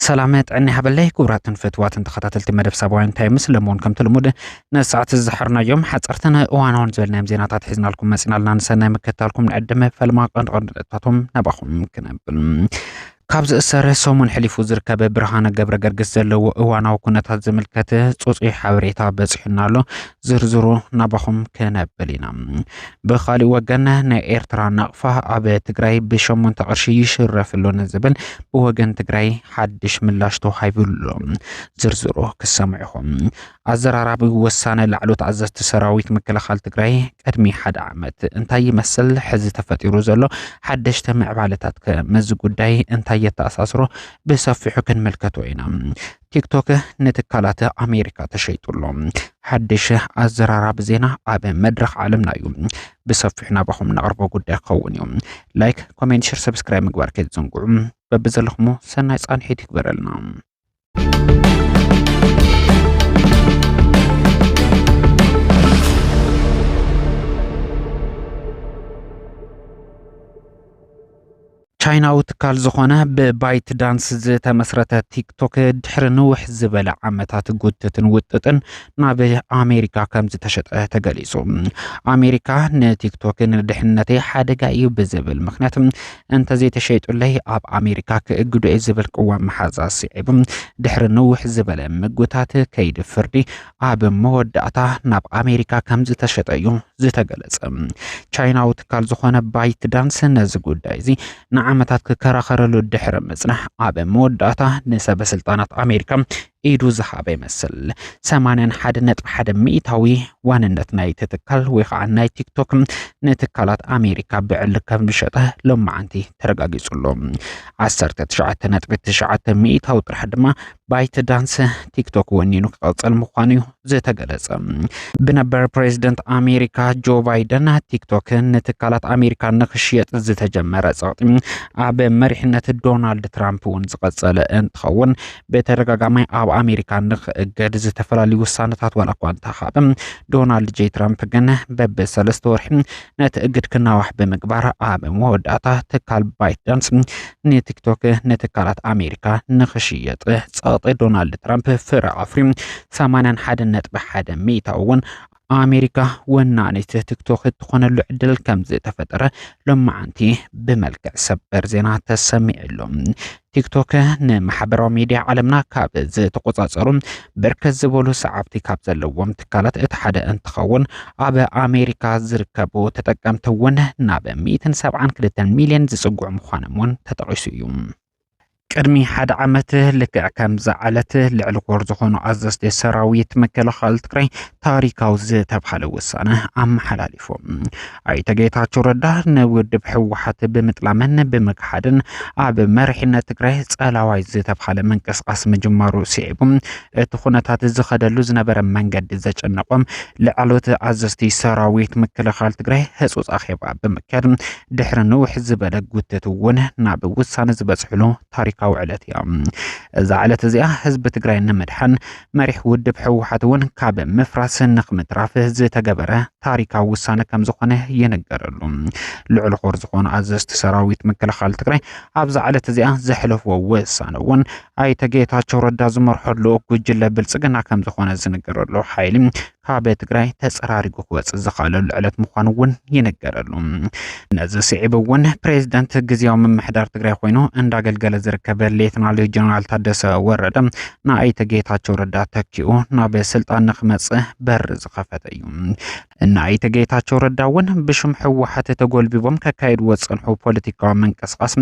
ሰላም ጥዕና ይሃበለይ ክቡራትን ፍትዋትን ተኸታተልቲ መደብ ሳባውያን ታይምስ ለመሆን ከምቲ ልሙድ ነዚ ሰዓት ዝሓርናዮም ሓፀርትን እዋናውን ዝበልናዮም ዜናታት ሒዝናልኩም መፂናልና ንሰናይ ምከታልኩም ንዕድመ ፈልማ ቀንዲ ቀንዲ ነጥብታቶም ናባኹም ክነብል ካብ ዝእሰረ ሰሙን ሕሊፉ ዝርከበ ብርሃነ ገብረገርግስ ዘለዎ እዋናዊ ኩነታት ዝምልከት ፅፁይ ሓበሬታ በፂሑና ኣሎ ዝርዝሩ ናባኹም ክነብል ኢና ብካሊእ ወገን ናይ ኤርትራ ናቕፋ ኣብ ትግራይ ብሸሞንተ ቅርሺ ይሽረፍ ኣሎ ንዝብል ብወገን ትግራይ ሓድሽ ምላሽ ተዋሂብሉ ዝርዝሩ ክሰምዑኹም ኣዘራራቢ ወሳነ ላዕሎት ኣዘዝቲ ሰራዊት ምክልኻል ትግራይ ቅድሚ ሓደ ዓመት እንታይ ይመስል ሕዚ ተፈጢሩ ዘሎ ሓደሽተ ምዕባለታት ከ ምስዚ ጉዳይ እንታይ የተኣሳስሮ ብሰፊሑ ክንምልከቶ ኢና ቲክቶክ ንትካላት ኣሜሪካ ተሸይጡሎ ሓድሽ ኣዘራራቢ ዜና ኣብ መድረኽ ዓለምና እዩ ብሰፊሑ ናባኹም ነቕርቦ ጉዳይ ክኸውን እዩ ላይክ ኮሜንት ሽር ሰብስክራይብ ምግባር ከይትዘንግዑ በብዘለኹሞ ሰናይ ፃንሒት ይግበረልና ቻይናዊ ትካል ዝኾነ ብባይት ዳንስ ዝተመስረተ ቲክቶክ ድሕሪ ንውሕ ዝበለ ዓመታት ጉትትን ውጥጥን ናብ ኣሜሪካ ከም ዝተሸጠ ተገሊጹ። ኣሜሪካ ንቲክቶክ ንድሕነተይ ሓደጋ እዩ ብዝብል ምክንያት እንተዘይተሸይጡለይ ኣብ ኣሜሪካ ክእግዶ እየ ዝብል ቅዋም መሓዛ ስዒቡ ድሕሪ ንውሕ ዝበለ ምጉታት ከይዲ ፍርዲ ኣብ መወዳእታ ናብ ኣሜሪካ ከም ዝተሸጠ እዩ ዝተገለጸ። ቻይናዊ ትካል ዝኾነ ባይት ዳንስ ነዚ ጉዳይ እዚ ንዓመታት ክከራኸረሉ ድሕሪ ምጽናሕ ኣብ መወዳእታ ንሰበስልጣናት ኣሜሪካ ኢዱ ዝሃበ ይመስል። ሰማንያን ሓደ ነጥቢ ሓደ ሚእታዊ ዋንነት ናይቲ ትካል ወይ ከዓ ናይ ቲክቶክ ንትካላት ኣሜሪካ ብዕሊ ከም ዝሸጠ ሎማዓንቲ ተረጋጊጹ ኣሎ። ዓሰርተ ትሽዓተ ነጥቢ ትሽዓተ ሚእታዊ ጥራሕ ድማ ባይት ዳንስ ቲክቶክ ወኒኑ ክቐፅል ምዃኑ እዩ ዝተገለጸ። ብነበር ፕሬዚደንት ኣሜሪካ ጆ ባይደን ቲክቶክ ንትካላት ኣሜሪካ ንክሽየጥ ዝተጀመረ ጸቕጢ ኣብ መሪሕነት ዶናልድ ትራምፕ እውን ዝቐጸለ እንትኸውን ብተደጋጋሚ ኣብ ኣሜሪካ ንክእገድ ዝተፈላለዩ ውሳነታት ዋላ እኳ እንተኻብ ዶናልድ ጄ ትራምፕ ግን በብ ሰለስተ ወርሒ ነቲ እግድ ክናዋሕ ብምግባር ኣብ መወዳእታ ትካል ባይትዳንስ ንቲክቶክ ንትካላት ኣሜሪካ ንክሽየጥ ፀቕጢ ዶናልድ ትራምፕ ፍረ ኣፍርዩ 81 ነጥቢ ሓደ ሚእታዊ እውን ኣሜሪካ ወናኒት ቲክቶክ እትኾነሉ ዕድል ከም ዝተፈጠረ ሎማዓንቲ ብመልክዕ ሰበር ዜና ተሰሚዕሉ። ቲክቶክ ንማሕበራዊ ሚዲያ ዓለምና ካብ ዝተቆፃፀሩ ብርከት ዝበሉ ሰዓብቲ ካብ ዘለዎም ትካላት እቲ ሓደ እንትኸውን ኣብ ኣሜሪካ ዝርከቡ ተጠቀምቲ እውን ናብ ሚእትን ሰብዓን ክልተን ሚሊዮን ዝፅግዑ ምዃኖም እውን ተጠቂሱ እዩ። ቅድሚ ሓደ ዓመት ልክዕ ከምዚ ዓለት ልዕሊ ኮር ዝኾኑ ኣዘዝቲ ሰራዊት ምክልኻል ትግራይ ታሪካዊ ዝተብሃለ ውሳነ ኣመሓላሊፎም። ኣይተ ጌታቸው ረዳ ንውድብ ህወሓት ብምጥላምን ብምክሓድን ኣብ መሪሕነት ትግራይ ጸላዋይ ዝተብሃለ ምንቅስቓስ ምጅማሩ ስዒቡ እቲ ኩነታት ዝኸደሉ ዝነበረ መንገዲ ዘጨነቆም ላዕለዎት ኣዘዝቲ ሰራዊት ምክልኻል ትግራይ ህፁፅ ኣኼባ ብምክያድ ድሕሪ ንውሕ ዝበለ ጉትት እውን ናብ ውሳነ ዝበፅሕሉ ታሪካዊ ዕለት እያ። እዛ ዕለት እዚኣ ህዝቢ ትግራይ ንምድሓን መሪሕ ውድብ ህወሓት እውን ካብ ምፍራስ ንክምትራፍ ዝተገበረ ታሪካዊ ውሳነ ከም ዝኾነ ይንገረሉ። ልዑል ኾር ዝኾኑ ኣዘዝቲ ሰራዊት ምክልኻል ትግራይ ኣብዛ ዕለት እዚኣ ዘሕለፍዎ ውሳነ እውን ኣይተ ጌታቸው ረዳ ዝመርሖ ልኡኽ ጉጅለ ብልፅግና ከም ዝኾነ ዝንገረሉ ሓይሊ ካብ ትግራይ ተፀራሪጉ ክወፅእ ዝኽኣለሉ ዕለት ምዃኑ እውን ይንገረሉ። ነዚ ስዒብ እውን ፕሬዚደንት ግዜያዊ ምምሕዳር ትግራይ ኮይኑ እንዳገልገለ ዝርከብ ሌትናል ጀነራል ታደሰ ወረደ ንኣይተ ጌታቸው ረዳ ተኪኡ ናብ ስልጣን ንክመፅእ በር ዝኸፈተ እዩ። እነ ኣይተ ጌታቸው ረዳ እውን ብሽም ህወሓት ተጎልቢቦም ከካይድዎ ዝፀንሑ ፖለቲካዊ ምንቅስቓስ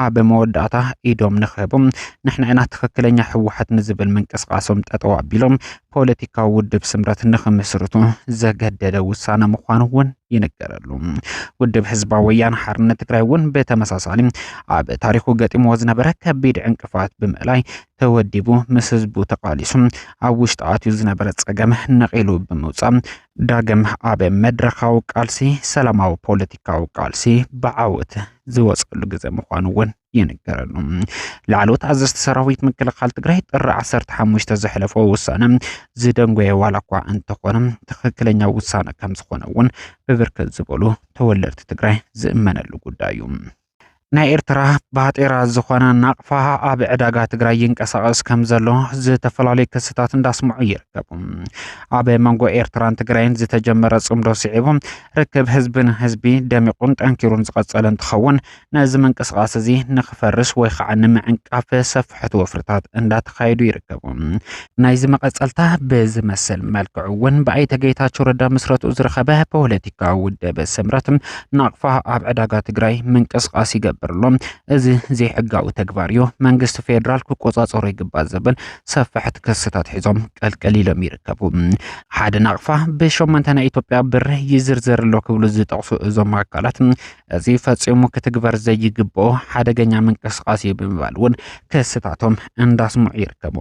ኣብ መወዳእታ ኢዶም ንክህቦም ንሕና ኢና ትኽክለኛ ህወሓት ንዝብል ምንቅስቓሶም ጠጠው ኣቢሎም ፖለቲካዊ ውድብ ስምረት ንክምስርቱ ዘገደደ ውሳነ ምዃኑ እውን ይንገረሉ። ውድብ ህዝባዊ ወያነ ሓርነት ትግራይ እውን ብተመሳሳሊ ኣብ ታሪኹ ገጢምዎ ዝነበረ ከቢድ ዕንቅፋት ብምእላይ ተወዲቡ ምስ ህዝቡ ተቓሊሱ ኣብ ውሽጢ ኣትዩ ዝነበረ ጸገም ነቒሉ ብምውጻእ ዳግም ኣብ መድረኻዊ ቃልሲ ሰላማዊ ፖለቲካዊ ቃልሲ ብዓወት ዝወጸሉ ግዘ ምዃኑ እውን ይንገረሉ። ላዕለዎት ኣዘዝቲ ሰራዊት ምክልኻል ትግራይ ጥሪ 15 ዘሕለፎ ውሳነ ዝደንጎየ ዋላ እኳ እንተኾነ ትኽክለኛ ውሳነ ከም ዝኾነ እውን ብብርክት ዝበሉ ተወለድቲ ትግራይ ዝእመነሉ ጉዳይ እዩ። ናይ ኤርትራ ባጤራ ዝኾነ ናቕፋ ኣብ ዕዳጋ ትግራይ ይንቀሳቐስ ከም ዘሎ ዝተፈላለዩ ክስታት እንዳስምዑ ይርከቡ። ኣብ መንጎ ኤርትራን ትግራይን ዝተጀመረ ጽምዶ ስዒቡ ርክብ ህዝቢ ንህዝቢ ደሚቑን ጠንኪሩን ዝቐጸለ እንትኸውን ነዚ ምንቅስቓስ እዚ ንክፈርስ ወይ ከዓ ንምዕንቃፍ ሰፊ ምፍሕፍሕቲ ወፍርታት እንዳተኻየዱ ይርከቡ። ናይዚ መቐፀልታ ብዝመስል መልክዑ እውን ብኣይተ ጌታቸው ረዳ ምስረትኡ ዝረኸበ ፖለቲካዊ ውደበ ስምረት ናቕፋ ኣብ ዕዳጋ ትግራይ ምንቅስቓስ ይገብር ኣሎ። እዚ ዘይሕጋዊ ተግባር እዩ፣ መንግስቲ ፌዴራል ክቆፃፀሮ ይግባእ ዝብል ሰፋሕቲ ክስታት ሒዞም ቀልቀል ኢሎም ይርከቡ። ሓደ ናቕፋ ብሸሞንተ ናይ ኢትዮጵያ ብር ይዝርዘር ኣሎ ክብሉ ዝጠቕሱ እዞም ኣካላት እዚ ፈፂሙ ክትግበር ዘይግብኦ ሓደገኛ ምንቅስቓስ እዩ ብምባል እውን ክስታቶም እንዳስምዑ ይርከቡ።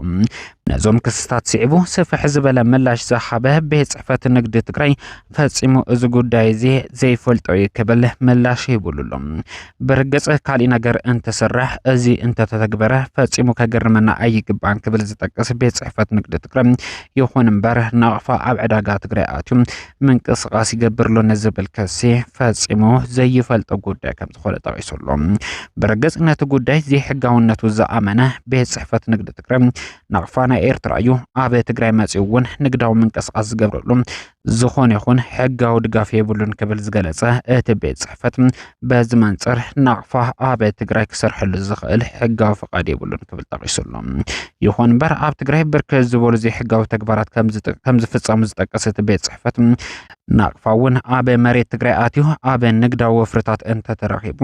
ነዞም ክስታት ስዒቡ ስፍሕ ዝበለ ምላሽ ዝሃበ ቤት ፅሕፈት ንግዲ ትግራይ ፈፂሙ እዚ ጉዳይ እዚ ዘይፈልጦ እዩ ክብል ምላሽ ሂቡሉ ኣሎ። ብርግፅ ካሊእ ነገር እንትስራሕ እዚ እንተተተግበረ ፈፂሙ ከገርመና ኣይግባን ክብል ዝጠቅስ ቤት ፅሕፈት ንግዲ ትግራይ ይኹን እምበር ናቕፋ ኣብ ዕዳጋ ትግራይ ኣትዩ ምንቅስቓስ ይገብር ኣሎ ንዝብል ክሲ ፈፂሙ ዘይፈልጦ ጉዳይ ከም ዝኾነ ጠቒሱ ኣሎ። ብርግፅ ነቲ ጉዳይ ዘይሕጋውነቱ ዝኣመነ ቤት ፅሕፈት ንግዲ ትግራይ ናቕፋ ናይ ኤርትራ እዩ። ኣብ ትግራይ መፂኡ እውን ንግዳዊ ምንቅስቓስ ዝገብረሉ ዝኾነ ይኹን ሕጋዊ ድጋፍ የብሉን ክብል ዝገለፀ እቲ ቤት ፅሕፈት በዚ መንፅር ናቕፋ ኣብ ትግራይ ክሰርሐሉ ዝኽእል ሕጋዊ ፍቓድ የብሉን ክብል ጠቒሱ ኣሎ። ይኹን እምበር ኣብ ትግራይ ብርክት ዝበሉ ዘይሕጋዊ ተግባራት ከም ዝፍፀሙ ዝጠቀሰ እቲ ቤት ፅሕፈት ናቕፋ እውን ኣብ መሬት ትግራይ ኣትዩ ኣብ ንግዳዊ ወፍርታት እንተተረኺቡ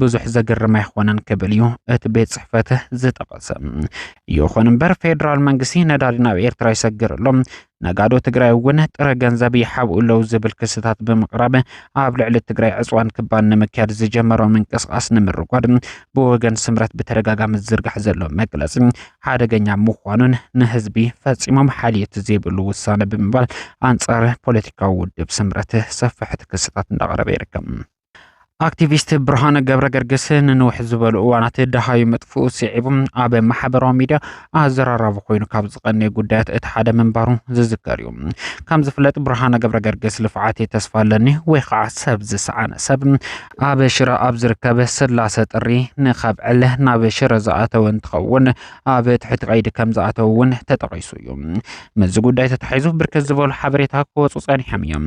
ብዙሕ ዘገርም ኣይኾነን ክብል እዩ እቲ ቤት ፅሕፈት ዝጠቐሰ። ይኹን እምበር ፌዴራል መንግስቲ ነዳዲ ናብ ኤርትራ ይሰግር ኣሎ፣ ነጋዶ ትግራይ እውን ጥረ ገንዘብ ይሓብኡ ኣለዉ ዝብል ክስታት ብምቕራብ ኣብ ልዕሊ ትግራይ ዕፅዋን ክባን ንምክያድ ዝጀመሮ ምንቅስቓስ ንምርጓድ ብወገን ስምረት ብተደጋጋሚ ዝዝርጋሕ ዘሎ መግለፂ ሓደገኛ ምዃኑን ንህዝቢ ፈፂሞም ሓልዮት ዘይብሉ ውሳነ ብምባል ኣንፃር ፖለቲካዊ ውድብ ስምረት ሰፋሕቲ ክስታት እንዳቐረበ ይርከብ። ኣክቲቪስት ብርሃነ ገብረ ገርግስ ንንውሕ ዝበሉ እዋናት ደሃዩ ምጥፍኡ ስዒቡ ኣብ ማሕበራዊ ሚድያ ኣዘራራቢ ኮይኑ ካብ ዝቐነየ ጉዳያት እቲ ሓደ ምንባሩ ዝዝከር እዩ። ከም ዝፍለጥ ብርሃነ ገብረ ገርግስ ልፍዓት ተስፋ ኣለኒ ወይ ከዓ ሰብ ዝሰዓነ ሰብ ኣብ ሽረ ኣብ ዝርከብ ስላሰ ጥሪ ንከብዕል ናብ ሽረ ዝኣተወ እንትኸውን ኣብ ትሕቲ ቀይዲ ከም ዝኣተው እውን ተጠቒሱ እዩ። ምስዚ ጉዳይ ተታሒዙ ብርክት ዝበሉ ሓበሬታ ክወፁ ፀኒሖም እዮም።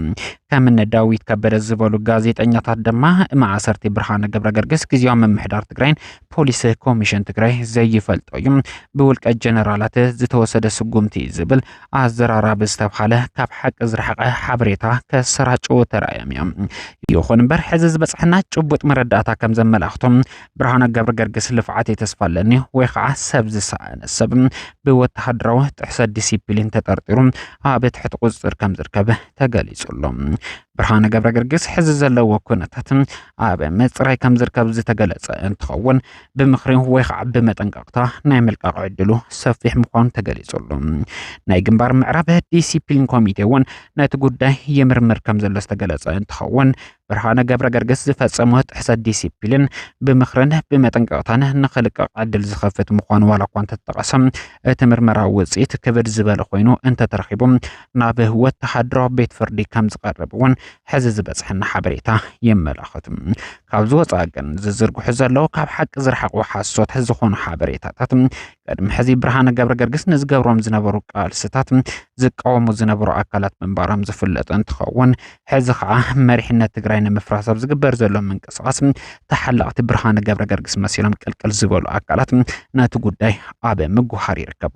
ከም እነ ዳዊት ከበደ ዝበሉ ጋዜጠኛታት ድማ ማእሰርቲ ብርሃነ ገብረ ገርግስ ግዜያዊ ምምሕዳር ትግራይን ፖሊስ ኮሚሽን ትግራይ ዘይፈልጦ እዩ ብውልቀ ጀነራላት ዝተወሰደ ስጉምቲ እዩ ዝብል ኣዘራራቢ ዝተብሃለ ካብ ሓቂ ዝረሓቐ ሓበሬታ ከሰራጭው ተራእዮም እዮም። ይኹን እምበር ሕዚ ዝበፅሐና ጭቡጥ መረዳእታ ከም ዘመላኽቶም ብርሃነ ገብረገርግስ ልፍዓተይ ተስፋ ኣለኒ ወይ ከዓ ሰብ ዝሰኣነ ሰብ ብወተሃደራዊ ጥሕሰት ዲሲፕሊን ተጠርጢሩ ኣብ ትሕቲ ቁፅፅር ከም ዝርከብ ተገሊፁ ኣሎ። ብርሃነ ገብረገርግስ ሕዚ ዘለዎ ኩነታት ኣብ ምፅራይ ከም ዝርከብ ዝተገለፀ እንትኸውን ብምኽሪ ወይ ከዓ ብመጠንቀቕታ ናይ ምልቃቕ ዕድሉ ሰፊሕ ምዃኑ ተገሊፁ ኣሎ። ናይ ግንባር ምዕራብ ዲሲፕሊን ኮሚቴ እውን ነቲ ጉዳይ ይምርምር ከም ዘሎ ዝተገለፀ እንትኸውን ብርሃነ ገብረገርግስ ዝፈጸሞ ጥሕሰት ዲሲፕሊን ብምኽርን ብመጠንቀቕታን ንኽልቀቕ ዕድል ዝኸፍት ምዃኑ ዋላ እኳ እንተተጠቐሰ እቲ ምርመራ ውፅኢት ክብድ ዝበለ ኮይኑ እንተተረኺቡ ናብ ወተሃደሮ ቤት ፍርዲ ከም ዝቐርብ እውን ሕዚ ዝበፅሐና ሓበሬታ የመላኽት። ካብዚ ወፃኢ ግን ዝዝርግሑ ዘለዉ ካብ ሓቂ ዝረሓቑ ሓሶት ዝኾኑ ሓበሬታታት ቅድሚ ሕዚ ብርሃነ ገብረገርግስ ንዝገብሮም ዝነበሩ ቃልስታት ዝቃወሙ ዝነበሩ ኣካላት ምንባሮም ዝፍለጠ እንትኸውን ሕዚ ከዓ መሪሕነት ትግራይ ንምፍራስ ኣብ ዝግበር ዘሎ ምንቅስቓስ ተሓላቕቲ ብርሃነ ገብረገርግስ መሲሎም ቅልቅል ዝበሉ ኣካላት ነቲ ጉዳይ ኣብ ምጉሃር ይርከቡ።